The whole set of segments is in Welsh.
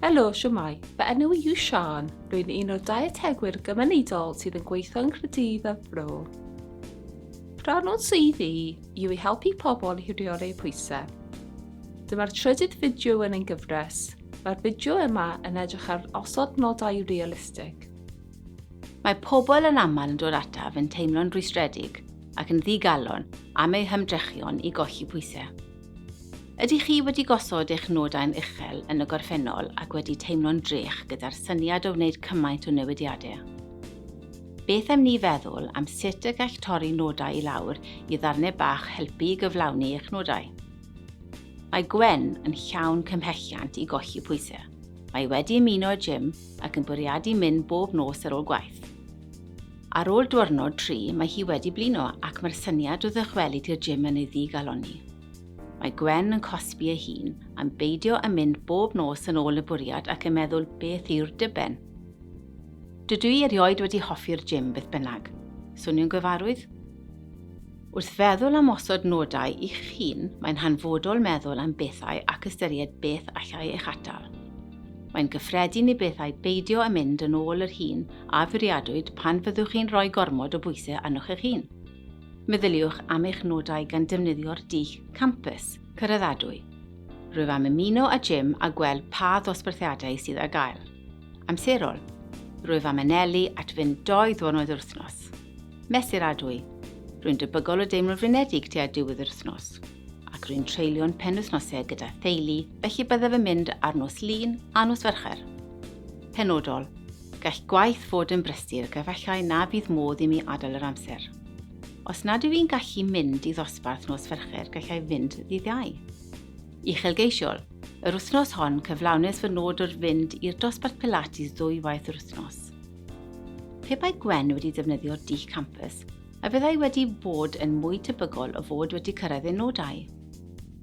Helo, siwmai. Fy enw i yw Sian. Rwy'n un o'r dietegwyr gymunedol sydd yn gweithio yn Nghydydd a Bro. Rhan o'n sydd i yw i helpu pobl i rheoli pwysau. Dyma'r trydydd fideo yn ein gyfres. Mae'r fideo yma yn edrych ar osod nodau realistig. Mae pobl yn aml yn dod ataf yn teimlo'n rhwystredig ac yn ddigalon am eu hymdrechion i golli pwysau. Ydych chi wedi gosod eich nodau'n uchel yn y gorffennol ac wedi teimlo'n drech gyda'r syniad o wneud cymaint o newidiadau? Beth am ni feddwl am sut y gall torri nodau i lawr i ddarnau bach helpu i gyflawni eich nodau? Mae Gwen yn llawn cymhelliant i golli pwysau. Mae wedi ymuno â gym ac yn bwriadu mynd bob nos ar ôl gwaith. Ar ôl diwrnod tri, mae hi wedi blino ac mae'r syniad o ddychwelyd i'r gym yn ei ddigalonni. Mae Gwen yn cosbi ei hun am beidio â mynd bob nos yn ôl y bwriad ac yn meddwl beth yw'r diben? Dydw i erioed wedi hoffi'r gym beth bynnag. Swnio'n gyfarwydd? Wrth feddwl am osod nodau i chi'ch hun, mae'n hanfodol meddwl am bethau ac ystyried beth allai eich atal. Mae'n gyffredin i bethau beidio â mynd yn ôl yr hun a fwriadwyd pan fyddwch chi'n rhoi gormod o bwysau arnoch eich hun. Meddyliwch am eich nodau gan defnyddio'r dull campus, cyraddadwy. Rwyf am ymuno â gym a gweld pa ddosbarthiadau sydd ar gael. Amserol. Rwyf am anelu at fynd dou ddiwrnod yr wythnos. Mesuradwy, Rwy'n debygol o deimlo'n flinedig tua diwedd yr wythnos, ac rwy'n treulio'n penwythnosau gyda theulu, felly byddaf yn mynd ar nos Lun a nos Fercher. Penodol, Gall gwaith fod yn brysur ac efallai na fydd modd i mi adael yr amser. Os nad yw i'n gallu mynd i ddosbarth nos Fercher, gallai fynd ddydd Iau. Uchelgeisiol, Yr wythnos hon, cyflawnes fy nod o'r fynd i'r dosbarth Pilates ddwy waith yr wythnos. Pe bai Gwen wedi defnyddio Dich Campus, a fyddai wedi bod yn mwy tebygol o fod wedi cyrraedd ei nodau?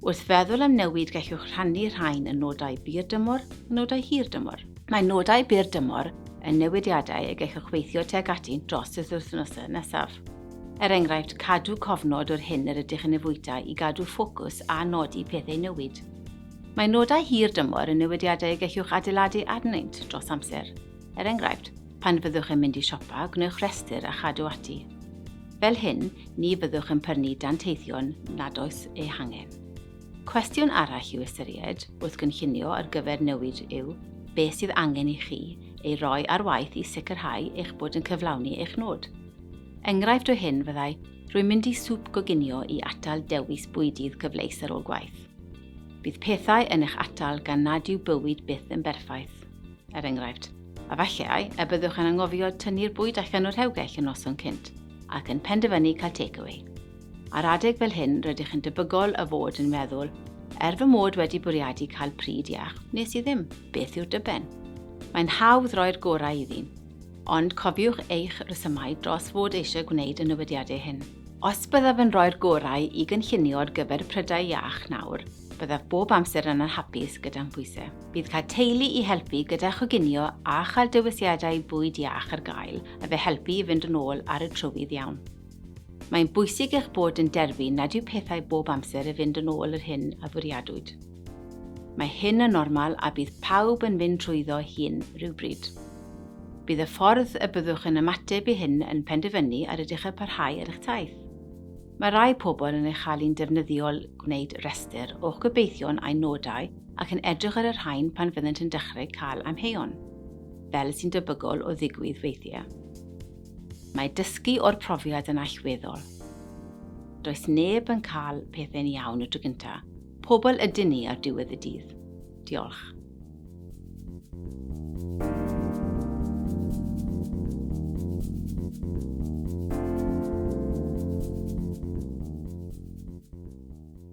Wrth feddwl am newid gellwch rhannu rhain yn nodau byr dymor a nodau hir dymor. Mae nodau byr dymor yn newidiadau y gellwch weithio tuag ati dros y wythnosau nesaf. Er enghraifft, cadw cofnod o'r hyn yr ydych yn ei fwyta i gadw ffocws a nodi pethau newid. Mae nodau hir dymor yn newidiadau y gellwch adeiladu arnynt dros amser. Er enghraifft, pan fyddwch yn mynd i siopa, gwnewch rhestr a chadw ati. Fel hyn, ni fyddwch yn prynu danteithion nad oes eu hangen. Cwestiwn arall i'w ystyried wrth gynllunio ar gyfer newid yw beth sydd angen i chi ei roi ar waith i sicrhau eich bod yn cyflawni eich nod. Enghraifft o hyn fyddai, rwy'n mynd i swp goginio i atal dewis bwydydd cyfleus ar ôl gwaith. Bydd pethau yn eich atal gan nad yw bywyd byth yn berffaith. er enghraifft, a falle y byddwch yn angofio tynnu'r bwyd allan o'r rhewgell yn noson cynt ac yn penderfynu cael takeaway. Ar adeg fel hyn, rydych yn debygol o fod yn meddwl, er fy mod wedi bwriadu cael pryd iach, nes i ddim, beth yw'r dyben? Mae'n hawdd roi'r gorau iddi, ond cofiwch eich rhesymau dros fod eisiau gwneud y newidiadau hyn. Os byddaf yn rhoi'r gorau i gynllunio ar gyfer prydau iach nawr, byddaf bob amser yn anhapus gyda'n phwysau. Bydd cael teulu i helpu gyda choginio a chael dewisiadau bwyd iach ar gael yn fy helpu i fynd yn ôl ar y trywydd iawn. Mae'n bwysig eich bod yn derbyn nad yw pethau bob amser yn fynd yn ôl yr hyn a fwriadwyd. Mae hyn yn normal a bydd pawb yn fynd trwyddo hyn rhywbryd. Bydd y ffordd y byddwch yn ymateb i hyn yn penderfynu ar ydych yn parhau ar eich taith. Mae rhai pobl yn ei chael hi'n defnyddiol gwneud rhestr o'ch gobeithion a'u nodau ac yn edrych ar y rhain pan fyddant yn dechrau cael amheuon, fel sy'n debygol o ddigwydd weithiau. Mae dysgu o'r profiad yn allweddol. Does neb yn cael pethau'n iawn y tro gyntaf. Pobl ydyn ni ar diwedd y dydd. Diolch.